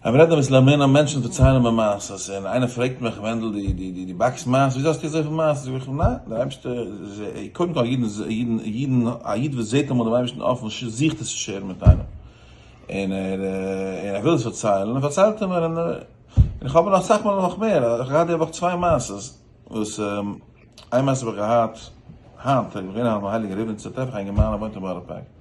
אז מ'רעדט אביסל ארמען אז מענטשן פארציילן מיר מעשות, און איינער פרעגט מיך, מענדל דו באקסט מעשות, וויאזוי האסטו אזויפיל מעשות? זאג איך אים, ניין, דער אייבערשטער, קודם כל א איד, א איד וואס זעט אמאל דעם אייבערשטן אפן, זוכט עס צו שערן מיט איינעם, און ער וויל עס פארציילן, און פארציילט ער מיר, און איך האב אסאך מאל נאך מער, איך האב געהאט די וואך צוויי מעשות, וואס איין מעשה האב איך געהאט היינט, איך בין געווען אינעם הייליגן ריבניצער טרעף איך א אינגערמאן ער וואוינט אין בארא פארק.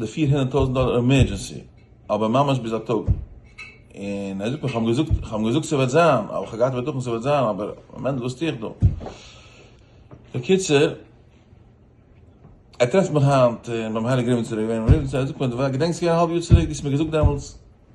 די פיר הונדערט טויזענט דאלער עמערדזשענסי, אבער ממש ביז א טאג, און ער זאגט מיר, כ'האב אים געזאגט, כ'האב אים געזאגט ס'וועט זיין, אבער כ'האב געהאט בטחון ס'וועט זיין, אבער מאמענט וואס טו איך דא? בקיצור, ער טרעפט מיר היינט, און ביים הייליגן ריבניצער איז ער געווען, און די ריבניצער זאגט מיר, געדענקסט ווי א האלב יאר צוריק, דו האסט מיר געזאגט דעמאלטס,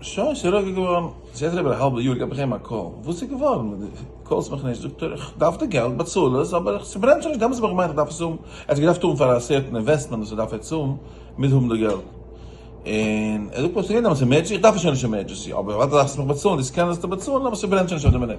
שוין, ס'איז רויטגעלט געווארן. ס'הערט זיך איבער א האלבע יאר גיב איך אים א קאל, וואס איז געווארן? קאלסט מיך נישט? זאגט ער, איך דארף די געלט, באצאל עס, אבער ס'ברענט שוין נישט, דעמאלטס האב איך געמיינט איך דארף עס האבן, ער האט עס געדארפט האבן פאר א סערטען אינוועסטמענט וואס ער דארף יעצט האבן, מוז האבן די געלט. און ער זאגט מיר, וואס איז געווען דעמאלטס? עמערדזשענסי? איך דארף עס שוין נישט עמערדזשענסי, אבער איך ווארט אז דו זאלסט מיך באצאלן, די זאלסט מיך באצאלן, די סקענערסטע באצאלן, אבער ס'ברענט שוין נישט אט די מינוט.